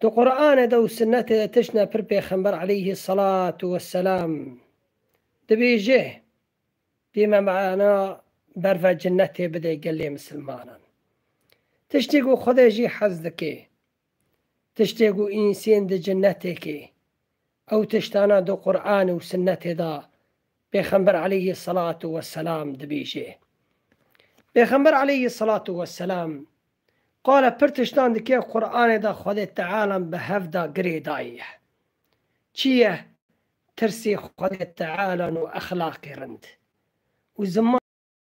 Di Quranê de û Sinnetê de tiştine pir Pêxember aleyhî selatû weselam dibêje dê me mana berve cinetê bide gelê misilmanan. Tiştê ku Xwedê jî hez dike, tiştê ku însên di cinetê ke Ew tiştana di Quran û Sinnetê de Pêxember aleyhî selatû weselam dibêje. Pêxember aleyhî selatû weselam qala pir tiştan dike Quranê de Xwedê Tealan bi hev da girê daye. Çi ye? Tirsê Xwedê Tealan û exlaqê rind û ziman.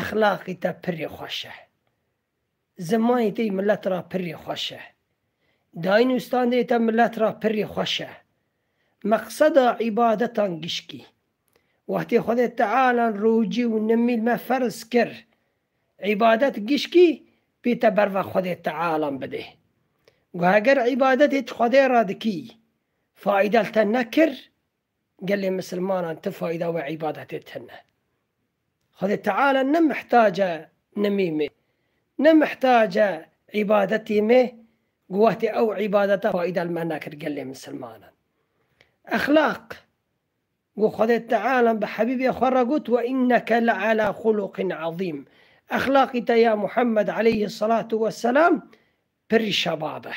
Exlaqî te pirrî xweş e. Zimanî tê milet ra pirrî xweş e. Dayîn û standê te milet ra pirrî xweş e. Meqseda îbadetan gişkî. Wextê Xwedê Tealan rocî û nimîl me ferz kir, îbadet gişkî pê te berva Xwedê Tealan bidê. Guheger îbadetê ti Xwedê ra dikî, faîdel te nekir, Gelê misilmanan ti fayda wê îbadetê tine. Xwedê Teala ne mihtac e nimî mê, ne mihtac e îbadetî mê ku wextê ew îbadete fayda li me nekir gelê misilmanan. Exlaq ku Xwedê Teala bi Hebîbê xwe re got we înneke le'elâ xuluqîn ezîm, exlaqî te ya Muhammed aleyhî selatu weselam pirî şebab e.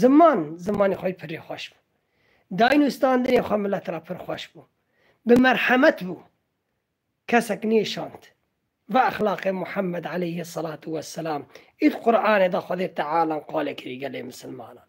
Ziman, zimanê xwe pirrî xweş bû. Dayîn û standinê xwe milet ra pir xweş bû. Bi merhemet bû. Kesek nêşand. Va exlaqê Muhammed eleyhi selatu ve selam ê di Quranê de Xwedê Teala qalê kirî gelê misilmanan.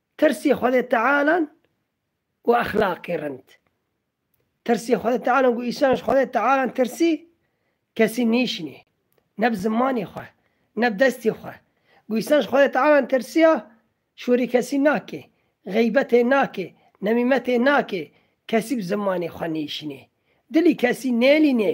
Tirsê Xwedê Tealan û exlaqê rind. Tirsê Xwedê Tealan ku Îsa ji Xwedê Tealan tirsî, kesî nîşînê, ne bi zimanê xwe, ne bi destê xwe. Ku Îsa ji Xwedê Tealan tirsiya, şorî kesî nake, xeybetê nake, nemîmetê nake, kesî bi zimanê xwe nîşînê. Dilî kesî nêlînê,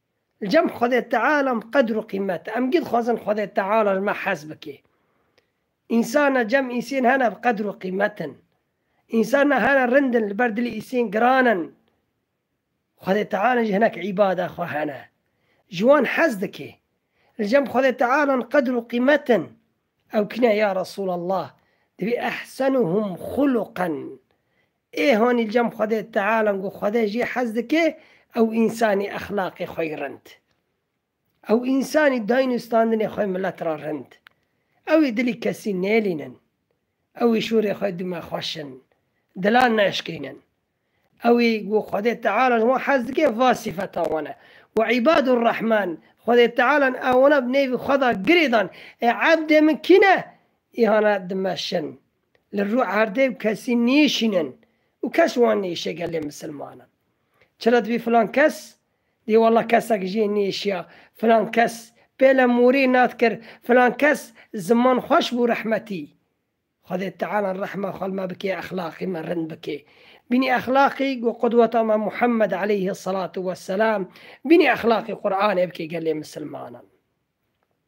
Li cem Xwedê Teala em qedr û qîmet e. Em gî dixwazin Xwedê Teala ji me hez bike. Însan e, cem însên hene bi qedr û qîmet in. Însan e, hene rind in, li ber dilê însên giran in. Xwedê Teala jî hinek îbada xwe hene. Ji wan hez dike. Li cem Xwedê Teala em qedr û qîmet in. Ew kî ne ya Resûlallah? Divê ehsenuhum xuluqen, Ê hanî cem Xwedê Teala ku Xwede jê hez dike ew însanî exlaqê xwe yî rind. Ew însanî dayîn û standinê xwe milet ra rind. Ew ê dilî kesî nêlînin. Ew ê şûrê xwe dûme xweş in. Dilan neşkînin. Ew ê ku Xwedê Teala ji wan hez dike va sîfetan wan e. Wa îbadu rehman, Xwedê Teala ew wana bi nêvî xwe da girê dan, Ê ebdê min kî ne? Îhana dime şin. li rû erdê û kesî nîşînin û kes wan nêşiye gelê misilmanan. Çila dibî filan kes dî wela kesek jiyê nêşiya, filan kes pêle morî nat kir, filan kes ziman xweş bû rehmetî. Xwedê Teala rehma xwe li me bikê exlaqî me rind bikê. Bînî exlaqî ku qudweta me Muhammed eleyhi selatû weselam bînî exlaqî Quranê bikê gelê misilmanan.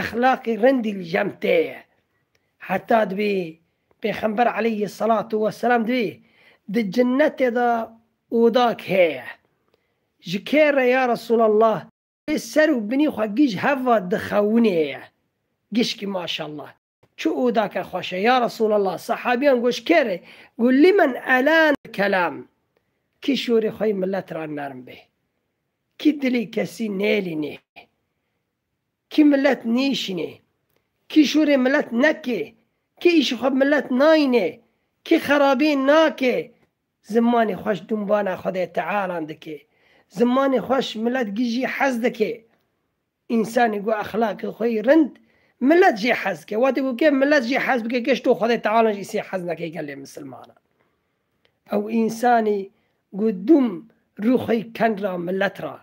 Exlaqê rindî li cem tê ye. Heta divê Pêxember aleyhî selatû weselam divê di cinnetê de odak heye. Ji kê re ya Resûlallah? Divê ser û binî xwe gîj heva dixewinê ye. Gişkî maşallah. Çû û da ke xweş e, ya Resûlallah! Sehabîyan goş kê rê? Got, Limen elân kelâm, kî şorê xwe yê milet ra nerm bê, kî dilê kesî nêlînê, kî milet nêşînê, kî şorê milet nekê, kî îşê xwe bi milet nayînê, kî xerabî nakê, zimanê xweş dûnbana Xwedê Tealan dikê. Zimanê xweş milet gijî hez dikê. Însanî ku exlaqê xwe yî rind, milet jê hez dike. Wextê ku kê milet jê hez bike, geşto Xwedê Teala jî sê hez neke gelê misilmanan. Ew însanî ku dûm rû xwe yî ken ra milet ra,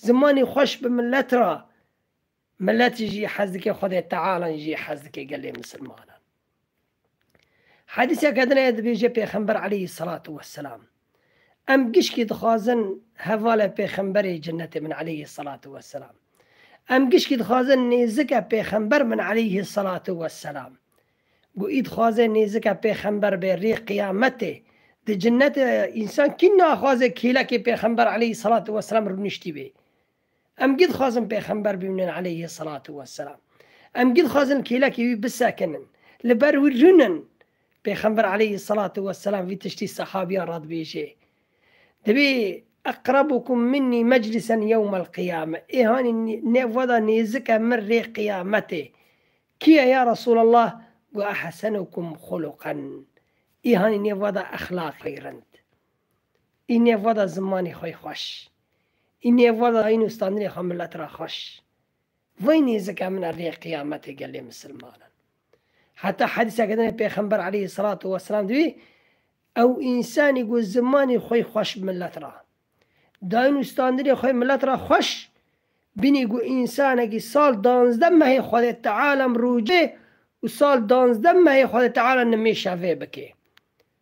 zimanî xweş bi milet ra, milet jî hez dike Xwedê Teala jî hez dike gelê misilmanan. Hedîseke din heye dibêje Pêxember eleyhî selatû weselam, Em gişkî dixwazin hevale pêxemberê cenetê min eleyhî selatû weselam. Em gişkî dixwazin nêzike pêxember min eleyhî selatû weselam. Guî dixwaze nêzike pêxember bê rê qiyametê. Di cenetê însan kî naxwaze kêlekê pêxember eleyhî selatû weselam rûniştî bê. Em gî dixwazin pêxember bimînin aleyhî selatû weselam. Em gî dixwazin kêlekê wî bisekinin. Li ber wî rûnin. Pêxember aleyhî selatû weselam vî tiştî sehabîyan re dibêje, Divê eqrebûkum minnî meclîsen yewmel qiyame, ê hanî nêv we de nêzik e min rê qiyametê kî ye ya Resûlallah? Got ehsenûkum xuluqen, ê hanî nêv we de exlaqê rind, ê nêv we de zimanê xwe yê xweş. Îniye vala îno standinê xwe milet ra xweş. Vay nêzika min a rê qîyametê gelê misilmanan. Heta hedîsa ke dinê pêxember aleyhî selatû weselam di bî, ew însanî ku zimanê xwey xweş bi milet ra dayîn û standinê xwe milet ra xweş bînî ku însanekî sal danzdeh mehê Xwedê Teala mirûcê û sal danzdeh mehê Xwedê Teala nimêşa vê bikê.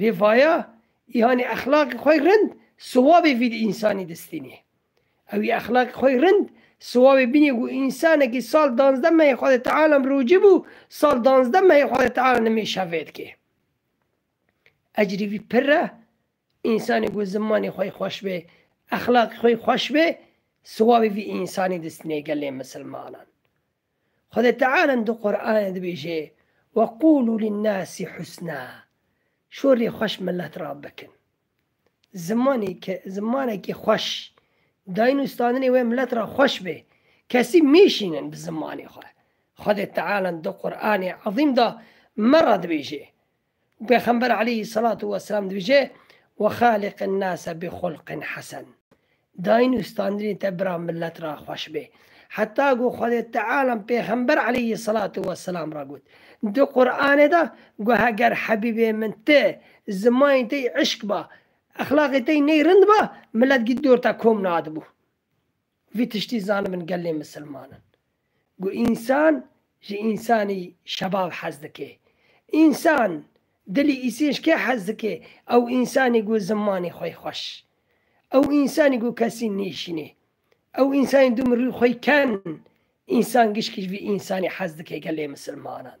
Vê vaya îhanê exlaqê xwe rind siwabê vî di însanî distînê. Ewî exlaqê xwe rind siwabê bînê ku însanekî sal danzdeh mehê xwe di teala mirocî bû, sal danzdeh mehê xwe di teala nimêşa vêdikê. Ecrê vî pirr e, însanê ku zimanê xwe xweş bê, exlaqê xwe xweş bê, siwabê vî însanî distînê gelê misilmanan. Xwedê Teala di Qur'anê dibêje, Weqûlû linnâsî husnâ, şorê xweş milet ra bikin. Zimanê ke zimanekî xweş, dayîn û standinê wê milet ra xweş be, kesî mêşînin bi zimanê xwe. Xwedê Teala di Qur'anê ezîm de me ra dibêje, Pêxember aleyhî selatu weselam dibêje, Ve xaliqin nase bi xulqin hesen. Dayîn û standinê te bira milet re xweş bê. Heta ku Xwedê Teala pêxember aleyhî selatu weselam re got, Di Quranê de got heger hebîbê min ti zimanê te yî îşk ba, exlaqê te yî ney rind ba, milet gît dor te kom nadibû. Vî tiştî zanim min gelê misilman in ku însan ji însanî şebav hez dike. Însan dilî îsênc kê hez dike? Ew însanî ku zimanê xwe xweş, ew însanî ku kesî nêşînê, ew însanî du mirî xwe ken. Însan gişkî ji vî însanî hez dike gelê misilmanan.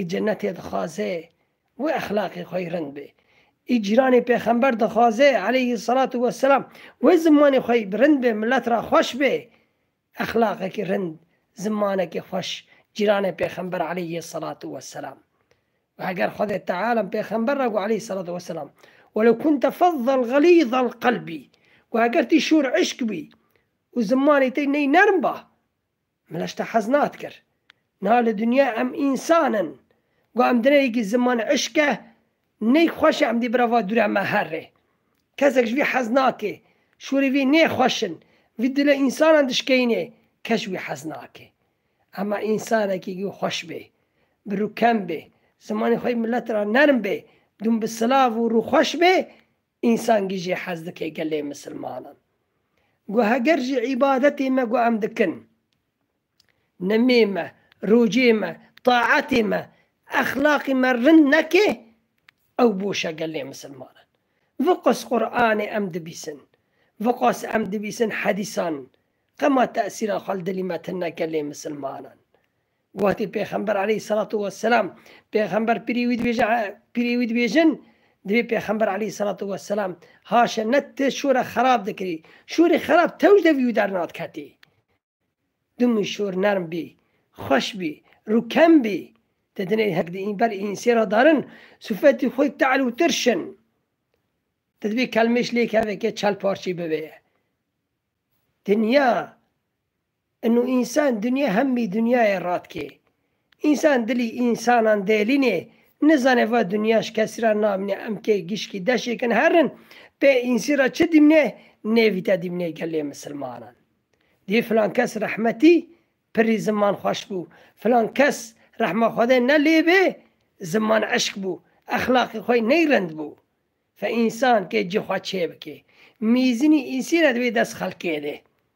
Ê cenetê dixwaze wê exlaqê xwe yê rind be. Ê cîranê pêxember dixwaze eleyhî selatû we selam wê zimanê xwe yê bi rind be milet re xweş be. Exlaqekî rind, zimanekî xweş cîranê pêxember eleyhî selatû we selam. Wê heger Xwedê teala pêxember re got eleyhî selatû we selam, Welew kunte fezzen xelîzel qelbî, wê heger tî şûr îşq bî û zimanê te ney nerm ba, Min eş te hez nadkir. Niha li dinya em însan in. Got em dineyekî ziman îşk e, neyk xweş e em dê bira va dure me her rê. Kesek ji vî hez nake. Şûrê vî nê xweş in. Vî dila însanan dişkeyîne. Kes ji wî hez nake. Ema însanekî ku xweş bê, bi rû kem bê, zimanê xwe yê milet ra nerm bê, dûm bi silav û rûxweş bê, Însangî jî hez dike gelê misilmanan. Got heger ji îbadetê me ku em dikin, nimê me, rojê me, taetê me, exlaqê me rind neke ew boş e gelê misilmanan. Viqas Quranê em dibîsin, viqas em dibîsin hedîsan qema tesîra xwe li dilî me tine gelê misilmanan. Wextê Pêxember aleyhîsselatu wesselam pêxember pirê wî dibêje pirê wî dibêjin divê pêxember aleyhîsselatu wesselam haşe ne ti şore xerab dikirî şorê xerab tewj de vî dernadiketî. Dimû şor nerm bî, xweş bî, rûkem bî. Ti dinê hek di ber însê ra darin sifetî xwe te'l û tirş in. Ti divê kelmêş lêkeve ke çel parçê bibe. Dinya Inu însan dinya hemî dinyayê radikê. Însan dilî însanan delînê, nizanê va dinya ji kesî ra namîne em kê gişkî deşê kin herin, pê însî ra çi dîmnê nêvîte dîmnê gelê misilmanan. Dî filan kes rehmetî pirrî ziman xweş bû, filan kes rehma Xwedê ne lê bê ziman eşk bû, exlaqê xwe ney rind bû. Fe însan kê cî xwe çêbikê. Mîzînî însî ne di wê dest xelkê dê.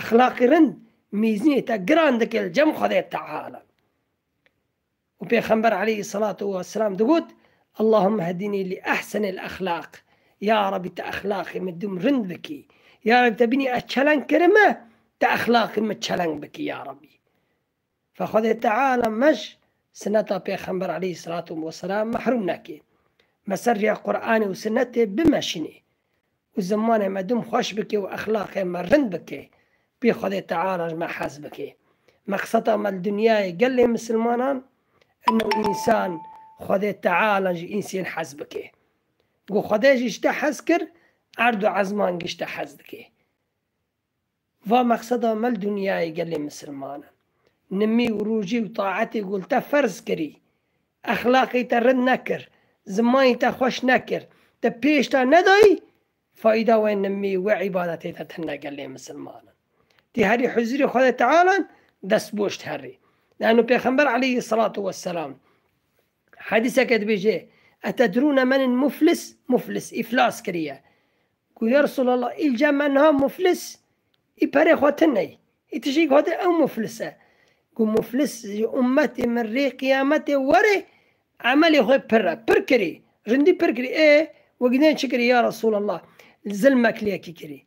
Exlaqê rind mîzînê te giran dike li cem Xwedê Teala. Û Pêxember aleyhî selatu we selam digot, Allahûmme hedînî li ehsenil exlaq, Ya Rabbî te exlaqê min dûm rind bikî, Ya Rabbî tebînî ez çeleng kirime, te exlaqê min çeleng bikî Ya Rabbî. Fa Xwedê Teala mej sineta Pêxember aleyh selatû weselam mehrûm neke. Me ser rêya Quranê û Sinetê bimeşînê û zimanê me dûm xweş bike û exlaqê me rind bike, pê Xwedê Teala ji me hez bike. Meqseta me li dinyayê gelê misilmanan in û însan Xwedê Teala ji însên hez bike. Ku Xwedê ji tiştê hez kir, erd û ezman giştî hez dike. Va mexseda me li dinyayê gelê misilman in. Nimî û rûjî û taetê ku li te ferz kirî. Exlaqê te rind nekir. Zimanê te xweş nekir. Te pêş da nedayî. Fayda wê nimî û wê îbadetê te tune gelê misilman in. Tî herî huzurê Xwedê Teala in, dest boş herî. Lano pêxember aleyhî selatû weselam hedîseke dibêje, Etedrûne menil muflis, muflis îflas kiriye. Ku ya Resûlallah îlca me niha muflis î perê xwe ti ney, î ti jî got ew muflis e. Ku muflis ji ummetê min rê qiyametê were emelê xwe pir e. Pir kirî, rindî pir kirî. Ê wek dê çi kirî ya Resûlallah? Zilmek li yekî kirî,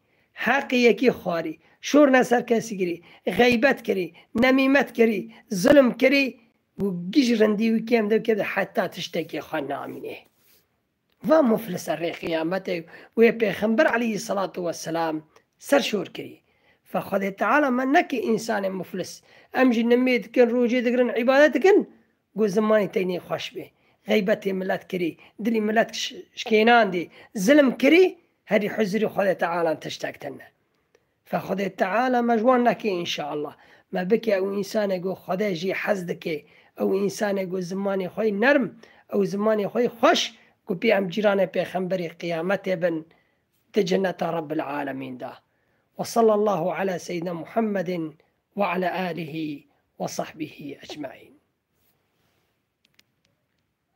heqê yekî xwarî, şor ne ser kesî kirî, xeybet kirî, nemîmet kirî, zilm kirî. Ku giş rindî wî kêm de wî kêm de heta tiştekê xwe namînê. Va muflise rê qiyametê wê pêxember aleyhî selatu weselam ser şor kirî. Va Xwedê Teala me neke însanê muflis. Em jî nimê dikin, rojê digirin, îbadet dikin ku zimanê teynê xweş bê. Xeybetê milet kirî, dilê milet şikênandî, zilm kirî, herî huzurê Xwedê Teala tiştek tune. Ka Xwedê Teala me ji wan neke înşeallah. Me bike ew însanê ku Xwedê jî hez dike, ew însanê ku zimanê xwe yê nerm, ew zimanê xwe yê xweş ku pê em cîranê pêxemberî qiyametê bin di ceneta Rebbil Alemîn de. Wa sallallahu ala seyyidina Muhammedin wa ala alihi wa sahbihi ecmaîn.